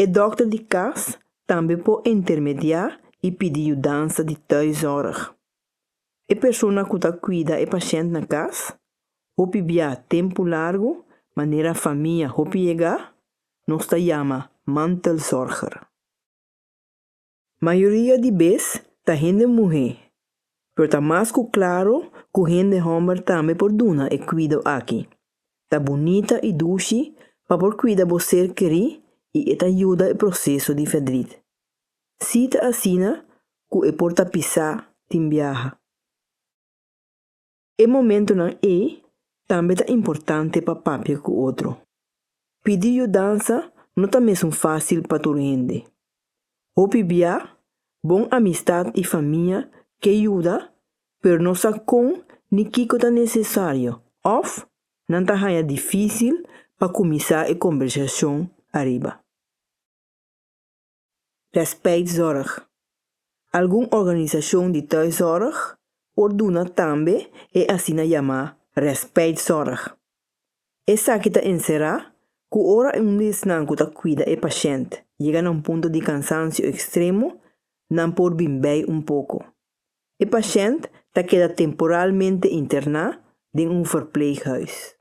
E dòkter di kas tambe por intermediá i pidi yudansa di tuiszorg. E persona ku ta kuida e pashènt na kas, hopi biaha tempu largu manera famia hopi yegá, nos ta yama mantelzorger. Mayoria di bes ta hende muhé, pero ta mas ku klaro ku hende hòmber tambe por duna e kuido aki. Ta bunita i dushi pa por kuida bo ser kerí i e ta yuda e proseso di fedrit. Sí ta asina ku e por tapisá tin biaha. E momentunan ei tambe ta importante pa papia ku otro. Pidi yudansa no ta mesun fásil pa tur hende. Hopi bia, bon amistat i famia ke yuda, pero no sa kon ni kiko ta nesesario òf nan ta haña difísil pa kuminsá e kombersashon ariba. Respijtzorg. Algun organisashon di tuiszorg por duna tambe e asina yamá respijtzorg. Esaki ta enserá ku ora un di esnan ku ta kuida e pashènt yega na un punto di kansansio ekstremo, nan por bin bai un poko. E pashènt ta keda temporalmente interná den un verpleeghuis.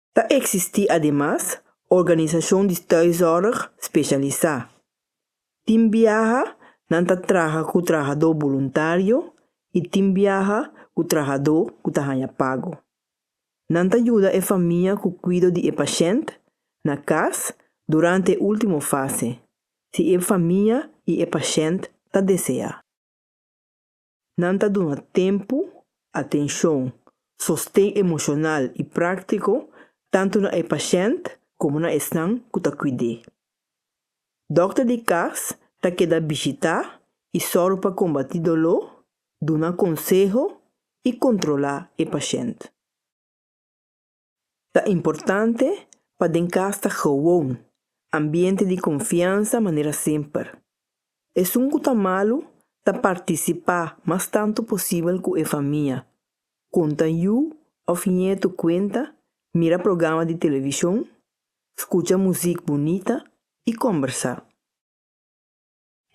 Ta eksistí ademas organisashon di tuiszorg spesialisá. Tin biaha nan ta traha ku trahadó boluntario i tin biaha ku trahadó ku ta haña pago. Nan ta yuda e famia ku kuido di e pashènt na kas durante e último fase, si e famia i e pashènt ta deseá. Nan ta duna tempu, atenshon, sosten emoshonal i práktiko tantu na e pashènt komo na esnan ku ta kuid'é. Dòkter di kas ta keda bishitá i sòru pa kombatí doló, duna konseho i kontrolá e pashènt. Ta importante pa den cas ta gewoon, ambiente di confiansa manera semper. Esun cu ta malu ta participa mas tanto posibel cu e famia, conta yu of nieto cuenta, mira programa di television, scucha muziek bunita y combersa.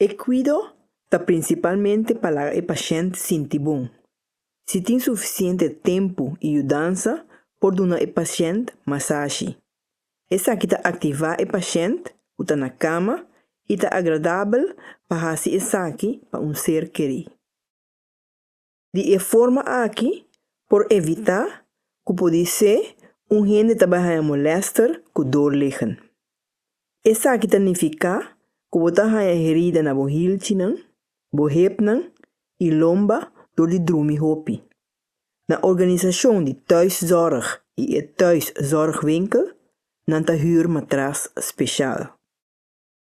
E cuido ta principalmente pa laga e pashent sinti bon. Si tin suficiente tempu y yudansa, por duna e pashent masashi. Esaki ta activa e pashent cu ta na cama y ta agradabel pa haci esaki pa un ser keri. Di e forma aki por evitá ku por di se un hende ta bai haña molèster ku dor legen. Esaki ta nifiká ku bo ta haña herida na bo hilchinan, bo hepnan i lomba dor di drumi hopi. Na organisashon di tuiszorg i e tuiszorgwinkel nan ta huur matras spesial.